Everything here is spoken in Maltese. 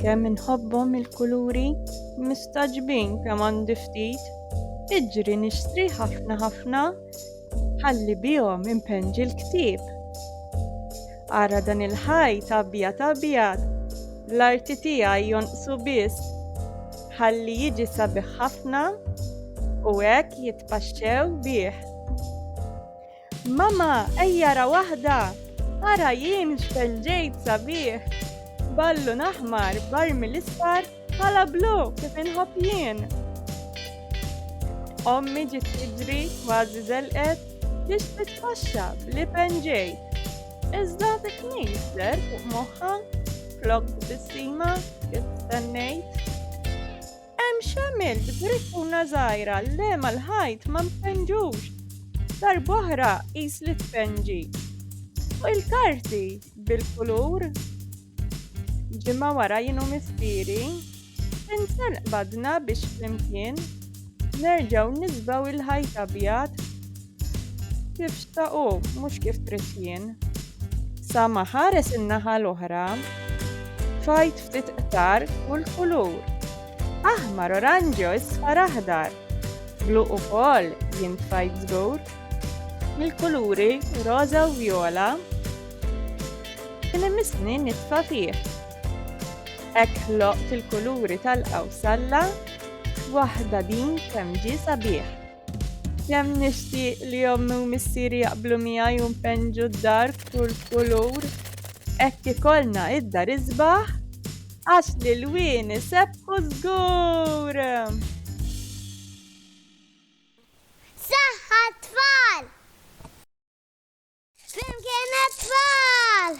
Kemm inħobbhom il-kuluri, mistagħġbin kemm għandi ftit. Iġri nixtri ħafna ħafna ħalli bihom impenġi l-ktieb. Ara dan il-ħajt abjad abjad, l-arti tiegħi jonqsu biss ħalli jiġi sabiħ ħafna u hekk jitpaxxew bih. Mama, ejja ra waħda! Ara jien x'kel ġejt sabiħ! Ballun aħmar, barmi l-isfar, ħala blu kif inħobb jien! Ommi ġiet tiġri kważi żelqet biex titfaxxa bl-ipen ġejt. Iżda dik mejster fuq moħħa flok b'tissima kif stennejt. Hemm x'għamilt griffuna żgħira le mal-ħajt ma mpenġux. Darb'oħra qis li tpenġi. Fuq il-karti bil-kulur. Ġimgħa wara jienu mistieri. Insan qbadna biex flimkien nerġgħu nisbaw il-ħajt abjad Kif xtaq hu, mhux kif trid jien. Sa ma ħares in-naħa l-oħra, fajt ftit qtar kull kulur. Aħmar oranġjo isfar aħdar, blu ukoll jien tfajt żgur. Mill-kuluri roża u vjola, kien imissni nitfa' fih. Hekk ħloqt il-kuluri tal-qawsalla, waħda din kemm ġie sabiħ. Kemm nixtieq li ommi u missieri jaqblu miegħi u npenġu d-dar f'kull kulur. Hekk ikollna id-dar isbaħ għax li l-wien isebħu żgur. Saħħa tfal! Flimkien tfal!